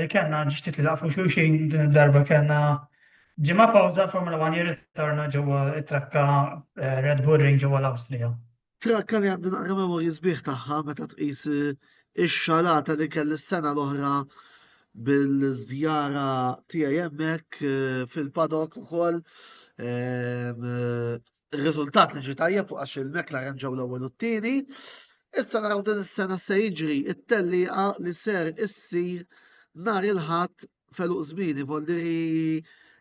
li kellna ġiet li laqfu xulxin din id-darba kellna ġimgħa pawża Formula 1 jirritorna ġewwa it-trakka eh, Red Bull Ring ġewwa l-Awstrija. Trakka li għandi naqra memorji sbieħ tagħha meta tqis eh, ix-xalata li kelli s-sena l-oħra bil-żjara tiegħi hemmhekk eh, fil-padok ukoll Ir-riżultat li ġie tajjeb għax il-McLaren ġew l-ewwel u t-tieni. Issa naraw din is-sena se jiġri it-tellieqa li ser issir nhar il-Ħadd feluq żmieni voldiri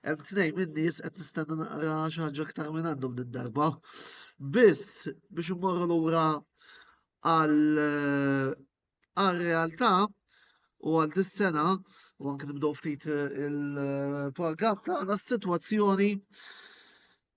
hemm tnejn min-nies qed nistenna naqra xi ħaġa aktar minn għandhom din darba. Biss biex immorru lura għal għal realtà u għal dis-sena u anke nibdew ftit eh, il-programm tagħna s-sitwazzjoni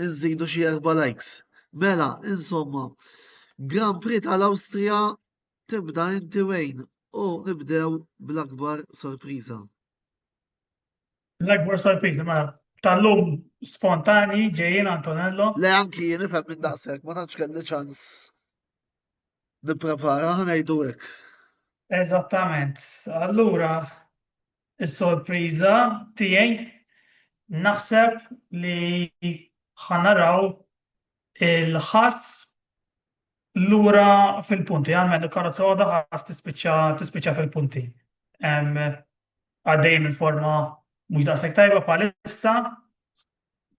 Nżidu xi erba' likes. Mela, insomma, Grand Prix tal-Awstrija tibda inti wejn u nibdew bl-akbar sorpriża. L-akbar sorpriża mela tal-lum spontani ġejjin Antonello. Le anki jien ifhem minn daqshekk ma tantx kelli ċans nipprepara ħanejdu hekk. Eżattament. Allura is-sorpriża tiegħi naħseb li ħanaraw il-ħass lura fil-punti, għalmen il-karozza għoda ħass tispiċċa fil-punti. Għaddej minn forma mhux daqshekk tajba bħalissa,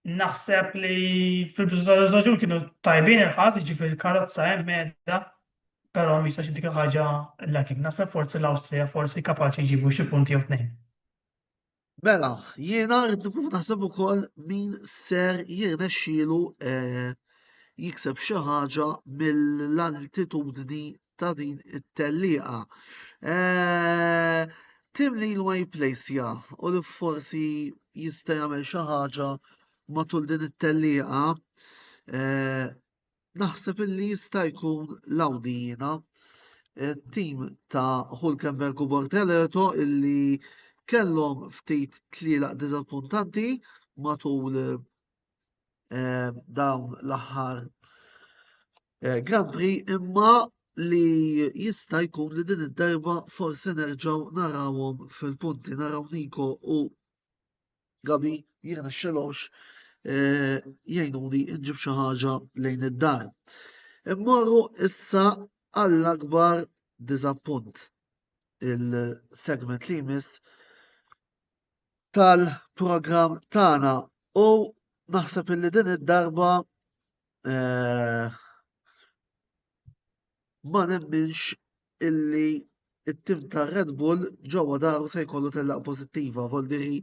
naħseb li fil-biżżewġ kienu tajbin il-ħas, ġifir il-karozza hemm medda, però mhix xi dik ħaġa l-lakin. Naħseb forsi l-Awstrija forsi kapaċi jġibu xi punti jew tnejn. Mela, jiena rrid nkun naħseb ukoll min ser jirnexxielu eh, jikseb xi ħaġa mill-altitudni ta' din it-tellieqa. Eh, Tim li l-my place ja, u li forsi jista' jagħmel xi ħaġa matul din it-tellieqa, eh, naħseb illi jista' jkun l-Awdina eh, tim ta' Hulkenberg u Borteleto illi kellhom ftit tlielaq diżappuntanti matul eh, dawn l-aħħar eh, Grand Prix imma li jista' jkun li din id-darba forsi nerġgħu narawhom fil-punti naraw Niko u Gabi jiena xelowx eh, jgħinuni nġib xi ħaġa lejn id-dar. Immorru issa għall-akbar diżappunt il-segment li jmiss tal-programm tagħna u naħseb illi din id-darba eh, ma nemminx illi it-tim ta' Red Bull ġewwa daru se jkollu tellaq pożittiva, voldiri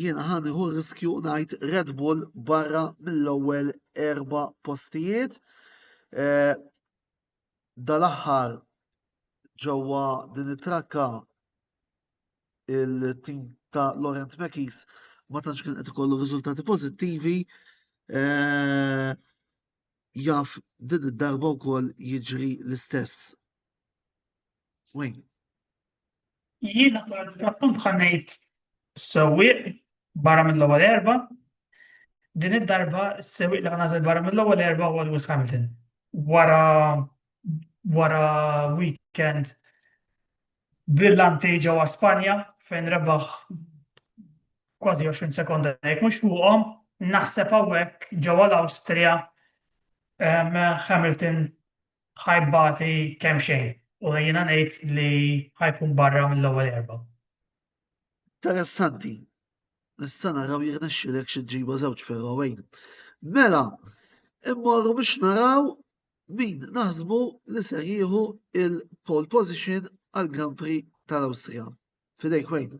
jiena ħani hu riskju ngħid Red Bull barra mill-ewwel erba' postijiet. Eh, dal-aħħar ġewwa din it-trakka il-tim ta' Laurent Mekis ma tantx kien qed ikollu riżultati pożittivi. Eh, jaf din id-darba wkoll jiġri l-istess. Jiena bħala diżappunt bħal ngħid sewwieq barra mill-ewwel erba' din id-darba s-sewwieq li ħanażel barra mill-ewwel erba' huwa Lewis Hamilton. Wara wara weekend brillanti ġewwa Spanja fejn rebaħ kważi 20 sekonda jekk mhux fuqhom, naħseb hawnhekk ġewwa l-Awstrija Hamilton ħajbati kemm xejn u jiena ngħid li ħajkun barra mill-ewwel erba'. Interessanti. Issa naraw jirnexxilek xi ġiba żewġ però wejn. Mela, immorru biex naraw min naħsbu li ser jieħu il-pole position għal Grand Prix tal-Awstrija. Fidejk wejn.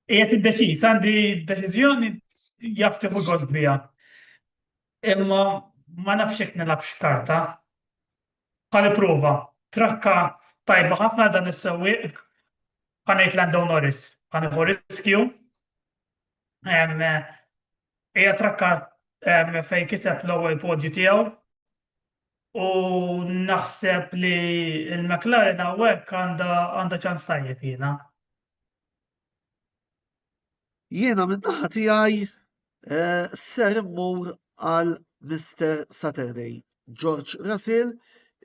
Qiegħed iddeċiż għandi deċiżjoni jaftiħu gost bija. Imma ma nafx jekk nilgħabx karta. Ħa nipprova. Trakka tajba ħafna dan is-sewwieq. Ħa ngħid Lando Norris. Ħa nieħu riskju. Hija trakka fejn kiseb l-ewwel podju tiegħu u naħseb li l-McLaren hawnhekk għandha ċans tajjeb jiena. Jiena minn naħa tiegħi eh, ser immur għal Mr. Saturday, George Russell,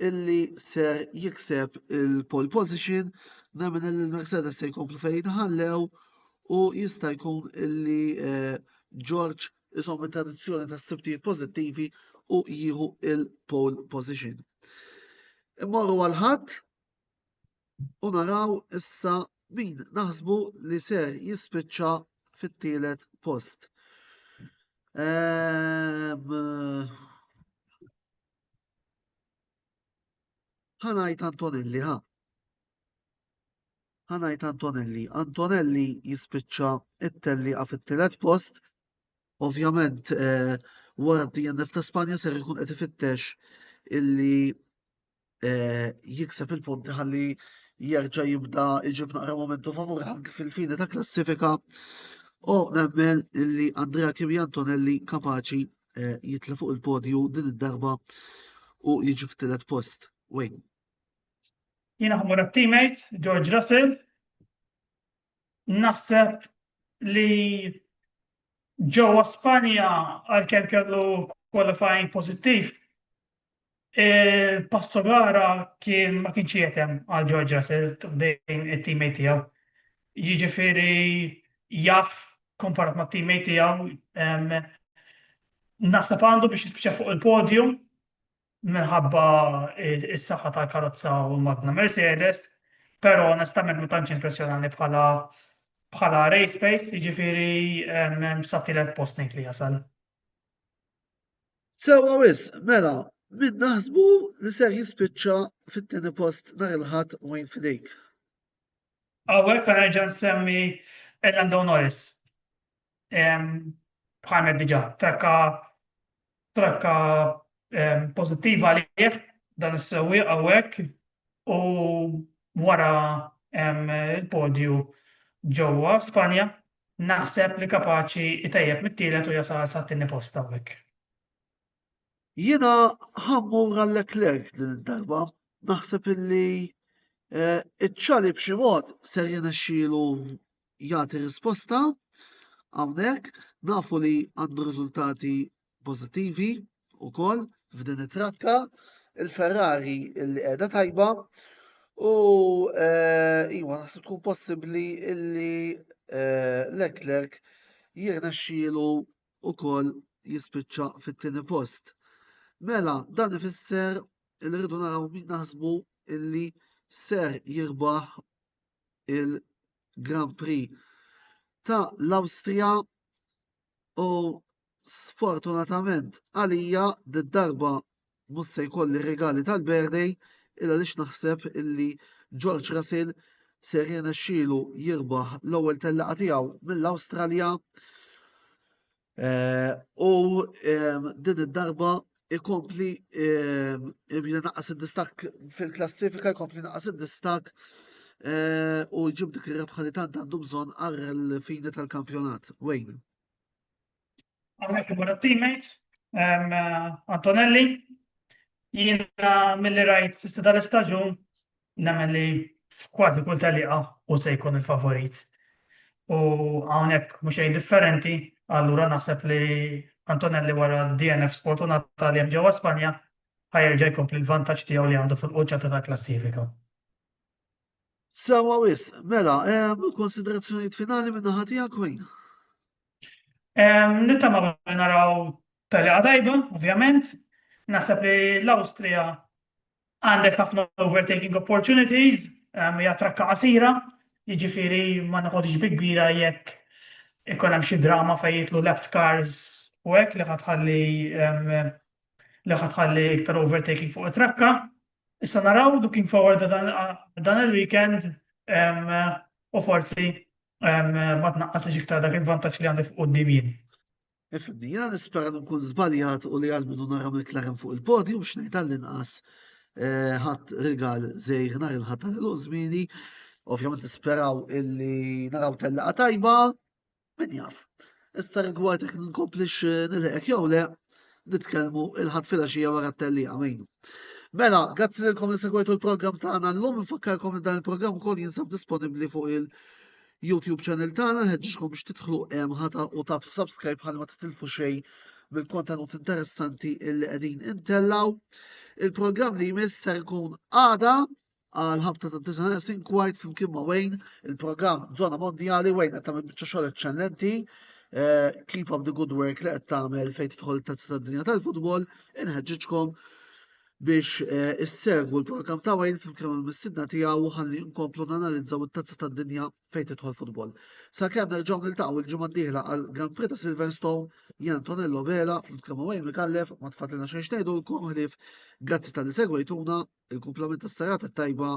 illi ser jikseb il-pole position, nemmen illi l-Mercedes se jkomplu fejn ħallew u jista' jkun illi eh, George isom it-tradizzjoni ta' sibtijiet pożittivi u jieħu il-pole position. Immorru għal ħadd u naraw issa min naħsbu li se jispiċċa fit-tielet post. ħanajt ehm, Antonelli, ha? ħanajt Antonelli. Antonelli jispiċċa it-telli għaf it-tielet post. Ovvjament, eh, wara d-DNF ta' Spanja ser jkun qed ifittex illi eh, jikseb il-punti ħalli jerġa' jibda iġib naqra momentu favur anke fil-fini ta' klassifika u nemmen li Andrea Kimi Antonelli kapaċi eh, jitla fuq il-podju din id-darba u jiġi f'tillet post. Wayne. Jina ħamur teammate George Russell, naħseb li ġewwa Spanja għalkemm kellu qualifying pozittiv, Il-passo gara kien ma kienx jetem għal George Russell dejn it-teammate tiegħu. Jiġifieri jaf komparat ma' teammate tiegħu nasab għandu biex jispiċċa fuq il-podium minħabba is-saħħa tal-karozza u l-magna Mercedes, però onestament ma tantx impressjonani bħala bħala race pace, jiġifieri sa tielet post ngħid li jasal. Sewa wis, mela, min naħsbu li ser jispiċċa fit-tieni post nhar il-Ħadd u għin f'idejk? Hawnhekk għan nerġa' nsemmi Lando Norris. Bħalmet diġà, trakka trakka pożittiva għalih dan is-sewwieq hawnhekk u wara il-podju ġewwa Spanja Naħseb li kapaċi itejjeb mit-tielet u jasal sat-tieni post hawnhekk. Jiena ħa mmur għal Leclerc din id-darba. Naħseb illi eh, iċ-ċali b'xi mod ser jirnexxielu jagħti risposta hawnhekk. Nafu li għandu riżultati pożittivi wkoll f'din it-trakka. Il-Ferrari li qiegħda tajba u eh, iwa naħseb tkun possibbli illi eh, Leclerc jirnexxielu wkoll jispiċċa fit-tieni post. Mela, dan ifisser li rridu naraw min naħsbu illi ser jirbaħ il-Grand Prix ta' l-Awstrija u sfortunatament għalija d-darba mhux se jkolli regali tal-birthday illa lix naħseb illi George Russell ser xilu jirbaħ l-ewwel tellaqa tiegħu mill-Awstralja. Eh, u din id-darba ikompli jibda naqas id-distak fil-klassifika, ikompli naqas id-distak eh, u jġib dik ir-rebħa li tant għandu bżonn għal fini tal-kampjonat. Wayne. Għamnek ibora teammates, eh, Antonelli, jina mill-li rajt s-sida l-istagġun Nemmen li f'kważi kull tellieqa hu se jkun il-favorit. U hawnhekk mhux xejn differenti, allura naħseb li Antonelli wara d-DNF sfortunat għalih ġewwa Spanja ħa jerġa' jkompli l-vantaġġ tiegħu li għandu fil-quċċata tal-klassifika. Sewwa wisq, mela, konsiderazzjonijiet finali minn naħa tiegħek Wayne? Nittamaw li naraw tellieqa tajba, ovvjament. Naħseb li l-Awstrija Għandek ħafna overtaking opportunities, hija trakka qasira, jiġifieri ma noħodx bi kbira jekk ikun hemm xi drama fejn jitlu left cars u hekk li ħatħalli li ħatħalli iktar overtaking fuq it-trakka. Issa naraw looking forward dan il-weekend u forsi ma tnaqqas li xiktar dak il-vantaġġ li għandi fuq quddiem jien. Ifimni, jiena nispera li nkun żbaljat u li għal minnu nara McLaren fuq il-podium x'ngħid għall-inqas eh, ħadd rigal żejr nhar il-ħadd tal żmieni. Ovvjament nisperaw illi naraw tellaqa tajba, min jaf. Issa rigward jekk nkomplix eh, nilħeqek jew le, nitkellmu il-ħadd filgħaxija wara t-tellija mejnu. Mela, grazzi lilkom li segwejtu l-programm tagħna llum, infakkarkom li dan il-programm ukoll jinsab disponibbli fuq il- YouTube channel tagħna nħeġġkom biex tidħlu hemm ħata u tagħtu subscribe ħalli ma titilfu xejn mill-kontenut interessanti illi qegħdin intellaw. Il-programm li jmiss ser ikun għada għal ħabta ta' dizanes inkwajt flimkien ma' Wayne, il-programm Zona Mondjali Wayne qed tagħmel biċċa xogħol eċċellenti. Eh, keep up the good work li qed tagħmel fejn tidħol tazza tad-dinja tal-futbol, inħeġġiġkom biex issegwu l-programm ta' Wales flimkien mal-mistidna tiegħu ħalli nkomplu nanalizzaw it-tazza tad-dinja fejn tidħol futbol. Sakemm nerġgħu niltaqgħu l-ġimgħa d-dieħla għal Grand Prix ta' Silverstone, Jan Tonello Vela flimkien ma' Wayne Mikallef ma tfadlilna xejn xtejdulkom ħlief grazzi tal-li segwejtuna, il-kumplament tas-serata tajba